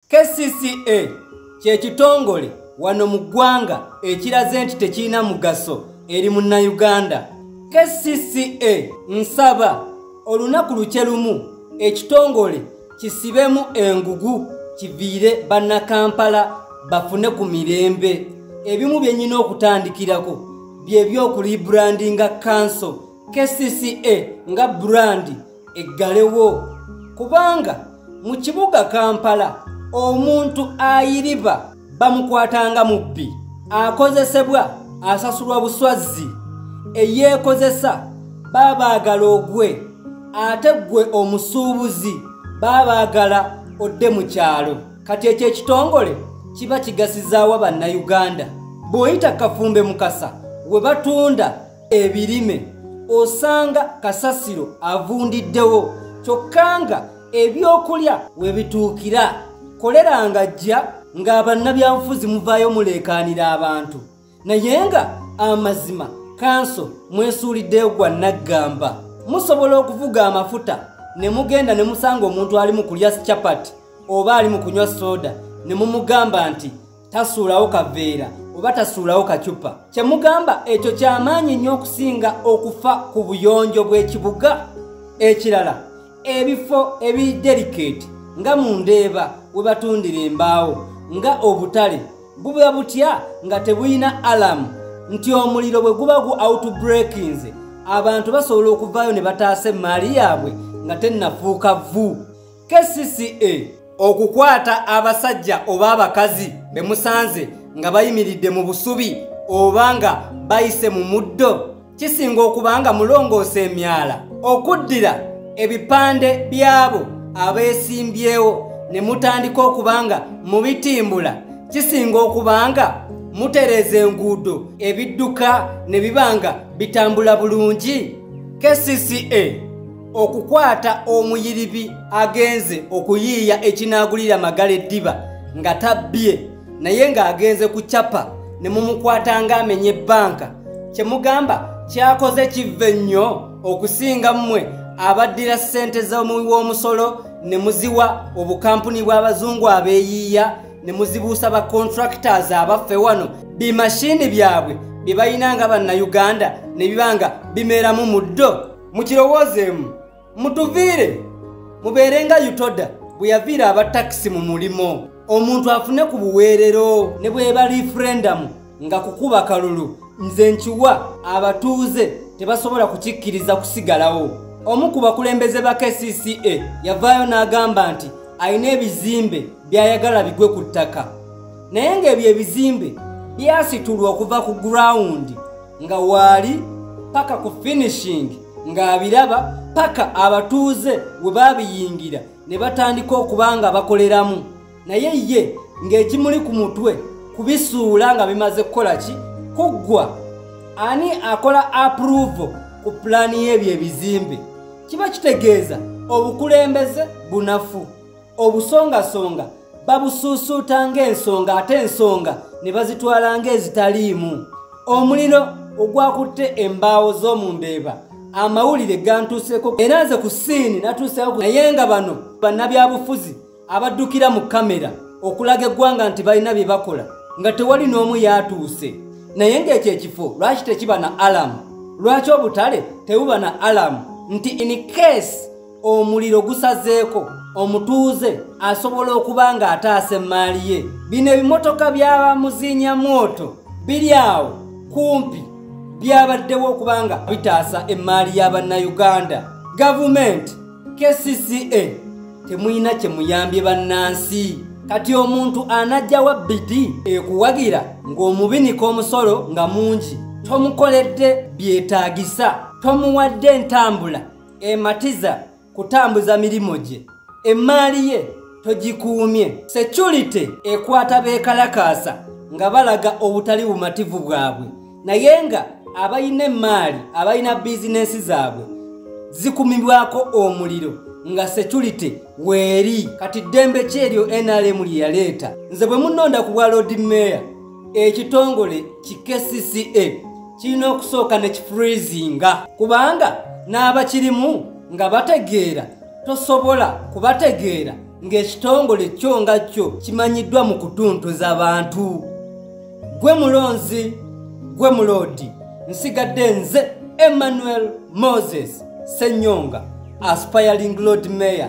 kcca kyekitongole wano mu ggwanga ekiraze nti tekirina mugaso eri munnayuganda kcca nsaba olunaku lukye lumu ekitongole kisibemu engugu kiviire bannakampala bafune ku mirembe ebimu byenyina okutandikirako byebyokulibrandinga kanso kcca nga brandi eggalewo kubanga mu kibuga kampala omuntu ayiriba bamukwatanga mubbi akozesebwa asasulwa buswazzi eyeekozesa baabaagala ogwe ate ggwe omusuubuzi baabaagala odde mu kyalo kati ekyo ekitongole kiba kigasizaawa bannayuganda bw'oyita kafumbe mukasa we batunda ebirime osanga kasasiro avundiddewo kyokka nga ebyokulya we bituukira kolera nga jja ng'abannabyabufuzi muvaayo muleekaanira abantu naye nga amazima kanso mwesuuliddeyo gwa naggamba musobola okuvuga amafuta ne mugenda ne musanga omuntu ali mu kulya chapati oba ali mu kunywa soda ne mumugamba nti tasuulawo kaveera oba tasuulawo kacupa kye mugamba ekyo ky'amaanyi nnyo okusinga okufa ku buyonjo bw'ekibuga ekirala ebifo ebiderikeeti nga mu ndeeba we batundira embaawo nga obutale buba butya nga tebulina alamu nti omuliro bwe guba gu outbreakinze abantu basobola okuvaayo ne bataasa emmaali yaabwe nga tennafuuka vvu kcca okukwata abasajja oba abakazi be musanze nga bayimiridde mu busubi oba nga bayise mu muddo kisinga okuba nga mulongoosa emyala okuddira ebipande by'abo abeesimbyewo ne mutandika okuba nga mubitimbula kisinga okuba nga mutereeza enguudo ebidduka ne biba nga bitambula bulungi kcca okukwata omuyiribi agenze okuyiiya ekinaagulira magala eddiba nga tabbye naye ng'agenze ku capa ne mumukwata ng'amenye ebbanka kye mugamba kyakoze kivve nnyo okusinga mmwe abaddira ssente z'omuwi w'omusolo ne muziwa obukampuni bw'abazungu abeeyiiya ne muzibuusa ba contractors abaffe wano bimashiini byabwe bye balina nga bannayuganda ne biba nga bimeeramu mu ddo mukirowoozeemu mutuviire mubeere nga utoda bwe yaviira aba takisi mu mulimu omuntu afune ku buweerero ne bweba referendamu nga kukuba kalulu nze nkiwa abatuuze tebasobola kukikkiriza kusigalawo omu ku bakulembeze ba kcca yavaayo n'agamba nti alina ebizimbe by'ayagala bigwe ku ttaka naye ng'ebyo ebizimbe byasitulwa okuva ku gurawundi nga waali paka ku finishing ng'abiraba paka abatuuze we baabiyingira ne batandika okuba nga bakoleramu naye ye ng'ekimuli ku mutwe kubisuula nga bimaze kukola ki kuggwa ani akola approvo ku pulaani y'ebyo ebizimbe kiba kitegeeza obukulembeze bunafu obusongasonga babusuusuuta ng'ensonga ate ensonga ne bazitwala ng'ezitaliimu omuliro ogwakutte embaawo z'omu mbeeba amawulire gantuuseko era nze ku siini natuuseko naye nga bano bannabyabufuzi abaddukira mu kamera okulaga eggwanga nti balina bye bakola nga tewali n'omu yaatuuse naye ng'ekyo ekifo lwaki tekiba na alamu lwaki obutale tebuba na alamu nti in case omuliro gusazeeko omutuuze asobola okuba ng'ataasa emmaali ye bino ebimotoka byabamuziinya mwoto biri awo kumpi byabaddewo okuba nga bitaasa emmaali ya bannayuganda gavumenti kcca temulina kye muyambye bannansi kati omuntu anajjawa bidi ekuwagira ng'omubinika omusolo nga mungi tomukoledde byetaagisa tomuwadde entambula ematiza kutambuza mirimu gye emmaali ye togikuumye security ekwata beekalakaasa nga balaga obutali bumativu bwabwe naye nga abalina emmaali abalina bizinensi zaabwe zikumibwako omuliro nga security weeri kati ddembe kyeryo nrm lye yaleeta nze bwe munonda ku bwa lodi meeya ekitongole ki kcca kirina okusooka ne kifreezinga kubanga n'abakirimu nga bategeera tosobola kubategeera ng'ekitongole kyo nga kyo kimanyiddwa mu kutuntuza bantu gwe mulonzi gwe muloodi nsigadde nze emmanuel moses senyonga aspiring lord mayor